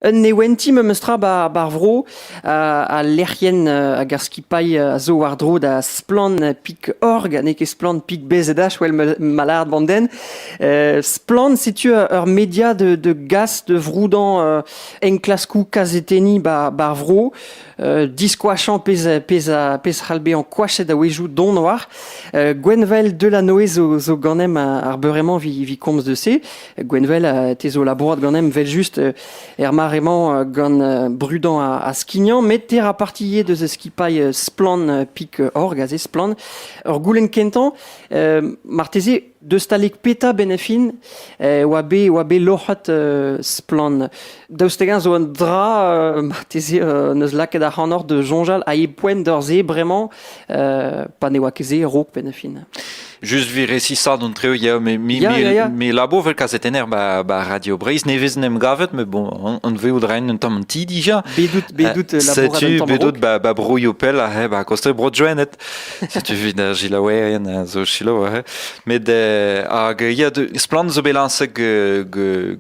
Un newenti memes tra bar vro al lec'hienn hag ar skipailh a zo war-dro da Splann Pic.org n'eo ket Splann Pic BZH wel ma lâret bandenn Splann setu ur media de, de gas de vroudañ enklaskoù kazetenniñ bar vro diskoachañ pezh c'hall bezañ koachet a-wezhioù don war Gwenvael Delanoë zo ganem ar beure-mañ vi komz de se Gwenvel, te zo labourat ganem vel-just er mare-mañ gant brudañ ha skignañ, met te ra partie deus skipailh Splann Pik Org, aze Splann. Ur goulenn kentañ, marteze deus talek peta benefin e oa bet, oa bet loc'het Splann Daoust hag-eñ zo un dra, euh, marteze, euh, n'eus lakaet ac'hanoc'h de soñjal a e poent d'ur-se bremañ, euh, pa ne oa ket se raok penn-fin? Just vi resisat an treu, ya, me, mi, ya, mi, ya, mi labour vel kazetenner ba, ba Radio Breizh, ne vezin em gavet, me bon, an, an veout raen un tamm an ti dija. Bedout, bedout labour un tamm Bedout ba, ba broio pell a he, ba koste bro joenet. Setu evit ar gilaouerien a zo silaou aze. Met eh, hag ya splann zo bet lañset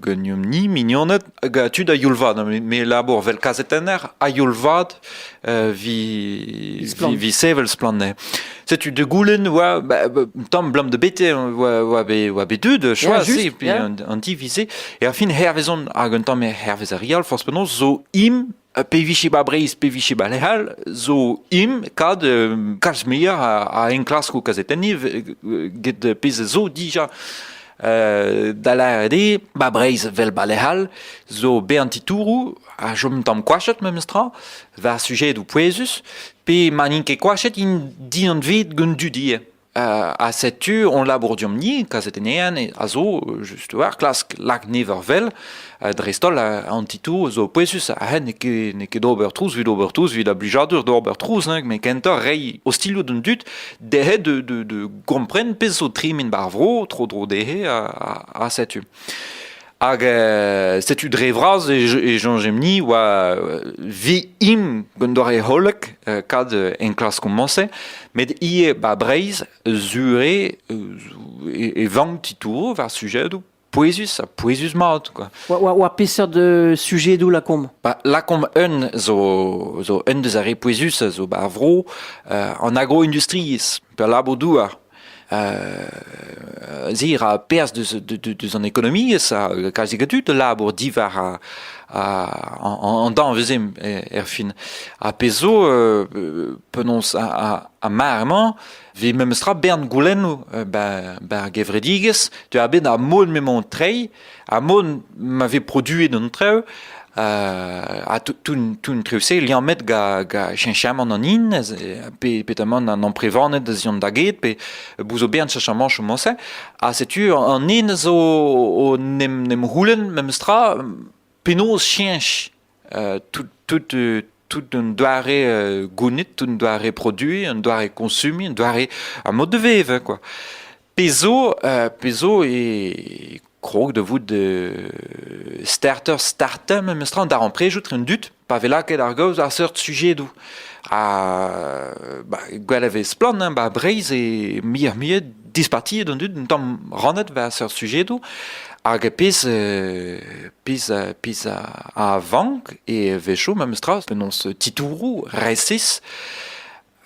ganeomp-ni mignoned hag a tu da youl-vat. Me labour vel kazetenner a youl-vat vi, vi, sevel splann. Setu de goulen oa ba, ba, tam blam de bete oa oa be oa be dud choisi pi an, an divise e a fin hervezon hag un tam hervez a rial fos penaos zo im Pe vije ba Breizh, pe vije ba lec'h all, zo im kad kalz muioc'h a enklaskoù kazetenniñ get pezh zo dija. da lâret eo, ba Breizh vel ba lec'h all zo bern titouroù a chom un tamm koachet memestra war sujedoù pouezus pe ma n'int ket koachet int dindan-ved gant dudier. ha setu hon labour deomp-ni kazetennean a zo just war klask lak never vel dreist-holl an titoù zo pouezus ha n'eo ket d'ober trouz evit ober trouz evit a blijadur d'ober trouz met kentoc'h reiñ ostilhoù d'an dud dezhe de gompren pezh zo tremen bar vro tro-dro dezhe ha setu Hag euh, setu dre vras e, soñjemp-ni oa vi-im un doare hollek euh, kad enklaskoù-mañse, met ivez ba Breizh zure e, vank titouroù war sujedoù pouezus ha pouezus-mat. Quoi. Oa, peseurt de sujet doù lakaomp ba, Lakaomp un zo, zo un deus ar re pouezus zo ba ar vro euh, an agro-industriezh, pe labour douar. Zir a perzh deus an ekonomiezh a kalzik a dud labour diwar an danvez erfin. Ha pezh zo, penaos ar mar-mañ, vez memestra bern goulennoù bar gevredigezh, tu a bet ar mod m'emañ o treiñ, Ha mont ma vez produet an traoù, ha tout-treoù-se liammet gant cheñchamant an hin, pe petamant an amprevaned az eont da get, pe bouzoberien cheñchamant chomo-se. Ha setu an hin zo n'em c'houlenn memes tra penaos cheñch tout un doare gounid, tout un doare produiñ, un doare koñsumiñ, un doare a mod de vevañ kwa. Pezh zo, pezh zo e krog da vout starter starter memestra an darempredoù etre an dud pa vez lakaet ar gaoz àr seurt sujedoù. Ha gwell a vez splann ba Breizh eo muioc'h-muiañ dispartiet an dud un tamm rannet war seurt sujedoù hag pezh euh, pezh euh, pezh a vank e wecho memes tra penaos titouroù resis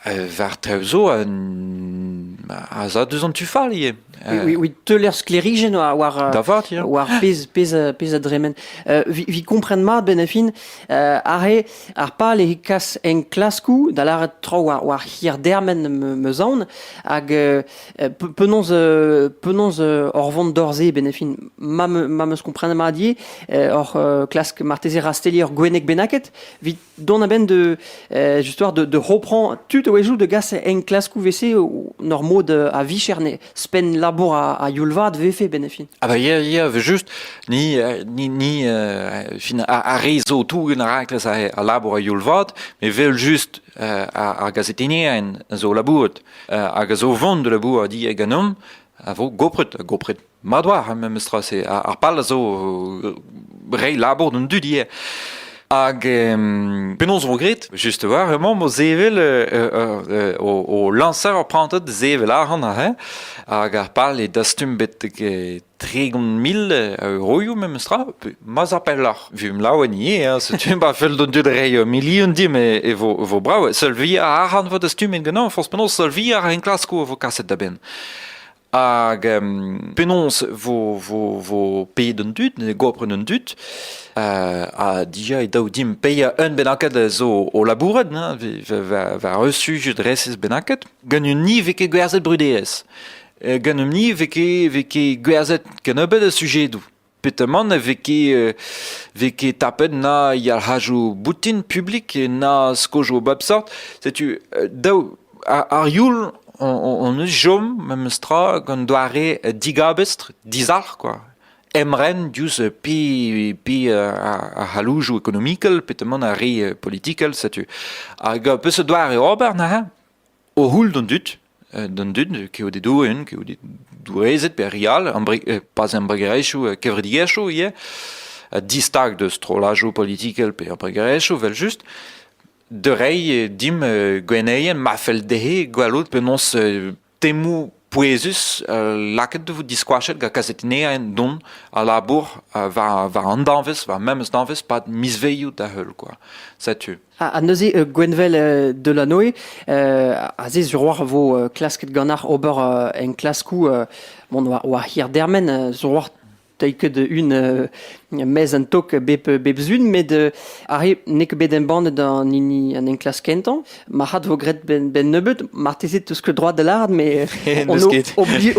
euh, war traoù zo a za deus an tu fall ivez. Oui, oui, teuler sklerijenn war war pezh pezh pezh a dremen. vi comprenn mat benafin are Ar pal eo kas enklaskoù, da lâret traoù war, war hir-dermen meus aon, hag euh, penaos euh, penaos euh, hor vont d'hor-se benefin ma me- ma meus komprenet mat ivez euh, hor euh, klask marteze rastelliñ ur gwenneg bennaket evit dont a-benn de euh, justement de, de reprendre tout a-wezhioù de gas enklaskoù wese o- nor mod euh, a vicher ne Ouzhpenn labour a youl-vat vefe benn fin. Ah ben ya, ya, just, ni, euh, ni, ni euh, fin, a, rezo tougen a rakles a, labour a youl-vat, me vel just euh, ar gazetenien zo labourd, hag a zo vont de labour a di e ganom, a vo gopret, gopret madwar, memestra, se, ar pal a zo rei labour d'an dudier. Hag penaos vo graet? Just war emañ mo zevel o lañser ur prantad zevel arc'hant aze hag ar pal eo dastum bet tregont mil euroioù memes tra ma za pelloc'h vum laouen ivez setu ba fell d'on dud reiñ milion di me e vo vo brav seul vi arc'hant vo dastumet ganin forzh penaos seul vi ar enklaskoù a vo kaset da benn Hag penaos vo, vo, vo paeet an dud, goapren an dud, ha dija e daou dimp paeañ un bennaket zo o labourat, war un sujet resis bennaket, gant un ni vez ket gwerzhet bruderezh. Gant un ni vez ket, vez ket gwerzhet kennebeut a sujedoù. Petamant e vez ket vez ket tapet na yalc'hajoù boutin publik na skojoù bep seurt. Setu daou ar youl hon eus chom memestra gant doare digabestr, dizalc'h kwa. Emren diouzh pi pi ar c'halloujoù ekonomikel, petamant ar re politikel setu. Hag peseurt doare ober neuze? O c'houl d'an dud, d'an dud, kaout e doenn, kaout e doueezed pe re all, pas embregerezhioù, kevredigezhioù ivez, distag deus strollajoù politikel pe embregerezhioù evel-just, da reiñ dimp gwenneien ma fell dezhe gwelout penaos temoù pouezus lakaet e vo diskoachet gant kazetennerien don a labour war, war an danvez, war memes danvez pad mizvezioù da heul quoi. Setu. Ha, neuze euh, Gwenvel euh, Delanoe euh, a ze sur war vo klasket ganac'h ober en klaskou bon war, war hir dermen sur war Teuy ket un mez an tok bep bep zun, met arre n'eo ket bet embannet an hini an enklask kentañ. Marc'had vo graet ben, ben nebeut, marteze teus ket droit da lâret, mais on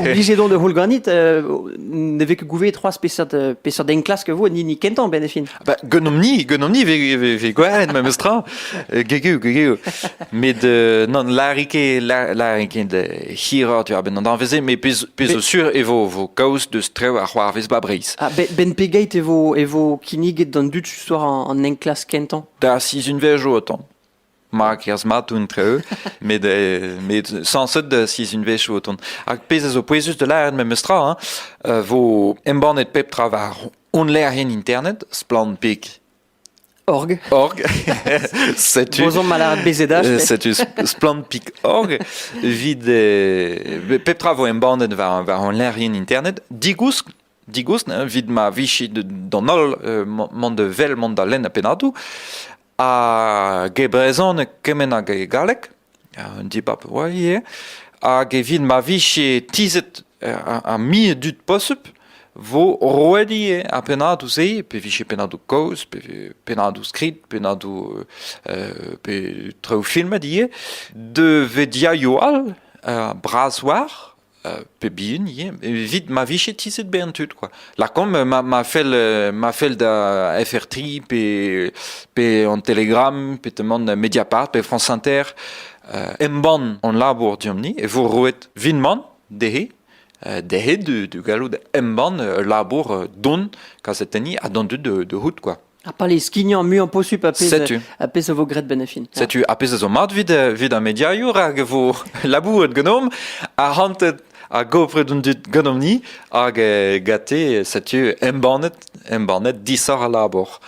obligé don de roul ganit. ne vez ket gouvet trois peseurt peseurt enklask vo an hini kentañ, ben e fin. Bah, gwenomp-ni, gwenomp-ni ve gwerenn memes tra. Euh, gegeu, gegeu. Met euh, non, larike, larike de hirot ur ben an danveze, mais pezo sur e vo, vo kaoz deus trev ar c'hoarvez ba Breiz. Ah, ben pegeit e vo, e vo kinniget d'an dud sur an, an enklask kentañ? Da sizunvezh o otan. ma kerzh mat oun treu met euh, met sañset da sizhunvezh o tont hag pezh a zo pouezus da lâret memes tra hein, euh, vo embannet pep tra war hon lec'hienn internet splanpik org org setu Bozon malad bezedach euh, setu splanpik.org vit euh, pep tra vo embannet war war hon lec'hienn internet digousk digoust evit ma vije d'an holl mont vel mont da lenn a pennadoù hag e brezhoneg kement hag e galleg un dibab oa ivez hag evit ma vije tizhet ar mil dud posupl vo roet ivez ar pennadoù-se pe vije pennadoù kaoz pe pennadoù skrid pennadoù pe traoù filmet ivez da vediaioù all bras war pep bihan eo evit ma vije tizhet bezañ tud quoi lakaomp ma ma fell ma fell da FR3 pe pe an Telegram pe teman Mediapart pe France Inter embann hon labour diomp-ni e vo roet vinman dezhe dezhe du gallout embann ul labour don kazetenniñ ha d'an dud de hout quoi Ar pale skignañ muiañ posupl a pezh a pezh a vo graet benefin. Setu a pezh a zo mat vid vid ar mediaioù rak e vo labouret ganeomp arc'hantet a gopret un dud ganeomp-ni hag eh, gate setu embannet embannet disoc'h al labour.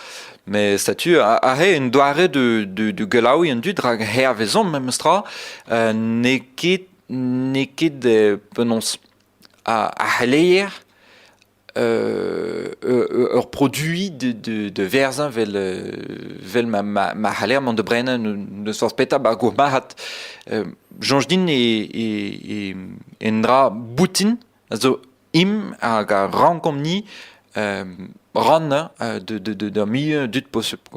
Met setu a, a re un doare de de de gelaouiñ an dud rak hervezomp memestra uh, n'eo ket n'eo ket penaos a, a c'heleier ur produit de, de, de verzañ vel, vel ma, ma, ma c'haller mont de brenañ n'eus forzh petra ba'r gourmarc'had soñj din e, e, e, un dra boutin a zo im hag a rankomp ni rannañ de, de, de, d'ur milieu dud posubl.